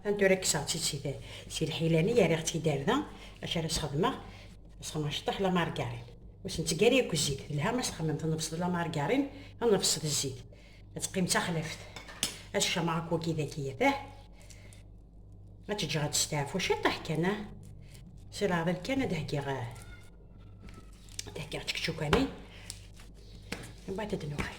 Atan tura kkseɣ-tt-id si, si lḥila-nni, yerriɣ-tt-id ar da, acu ara s-xedmeɣ? Ad s-xedmeɣ aceṭṭaḥ la margarine. Ur sen-ttgari akk zzit, telha ma s-txemmem tennebseḍ la margarine, tennebseḍ zzit. Ad teqqim d taxlaft. Ad s-cameɣ akk wagi d aki yatah. Ad tt-ǧǧeɣ ad testeɛfu ciṭṭaḥ kan, ah. Si leɛḍil kan ad heggiɣ, ad heggiɣ čekčuka-nni. Mbaɛd ad nuɣal.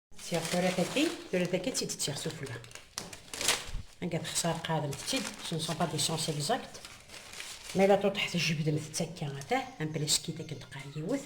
Tsiɣ tura taki, tura taki ad tt-id-tsiɣ sufella. Anga texsar qademt-tt-id, ce ne sont pas des sens exacts. Ma la tuṭeḥ tjebdemt-tt akka, ata, un pleskit akken teqqar yiwet.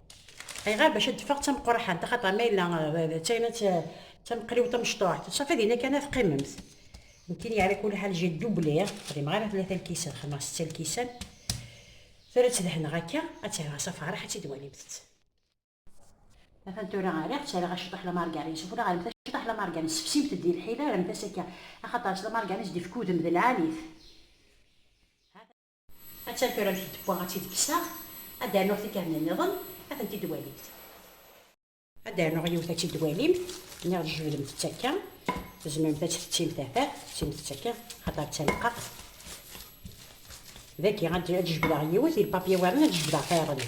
Ayɣer bac ad d-teffeɣ d tameqqraḥant axaṭer ma yella d tayna d tameqliwt amecṭuḥt safi dinna kan ad teqqimemt. Nekkini yeɛra kul ḥal j'ai doublé xdimeɣ ara tlata lkisan xdimeɣ setta lkisan tura ad tt-dehneɣ akka ad tt-rreɣ s afeṛṛeḥ ad tt-id-walimt. Atan tura rriɣ ttarraɣ aciṭuḥ lamargarin s ufella ɣer-mt aciṭuḥ lamargarin sefsimt-d di lḥila rremt-as akka axaṭer s lamargarin s d-ifk udem d lɛali-t. Attan tura amek i d-wwaɣ ad tt-id-kkseɣ, ad d-rnuɣ tikerna nniḍen, ad tent-id-walimt. Ad d-rnuɣ yiwet ad tt-id-walimt, niɣ tjebdemt-tt akka, tzemremt ad tt-tettimt tafat, tettimt-tt akka, axaṭer d taneqqaqt. Dagi ad d-jebdeɣ yiwet, il papier warren ad d-jebdeɣ tayeḍ-nni.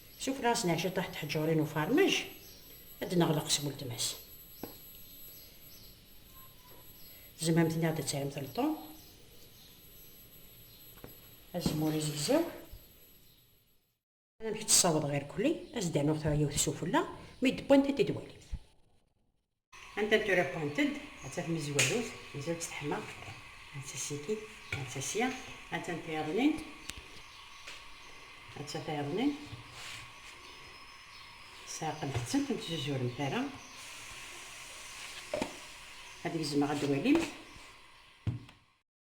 Sufeɣ-asen ɛecra ṭaḥ teḥǧurin ufarmaj ad d-neɣleq s weltma-s. Tzemremt niɣ ad d-terremt lṭum, azemmur izegzaw. Amek tt-ssawḍeɣ irkelli, ad s-d-rnuɣ tura yiwet sufella, mi d-wwint ad d-walimt. Anta n tura wwant-d, atta tmezwarut, tmezwarut teḥma, atta siki, atta sya, anta n tayeḍnin, atta tayeḍnin, sɛaqlet-tent, ur tzuzuremt ara, ad gezmeɣ ad walimt.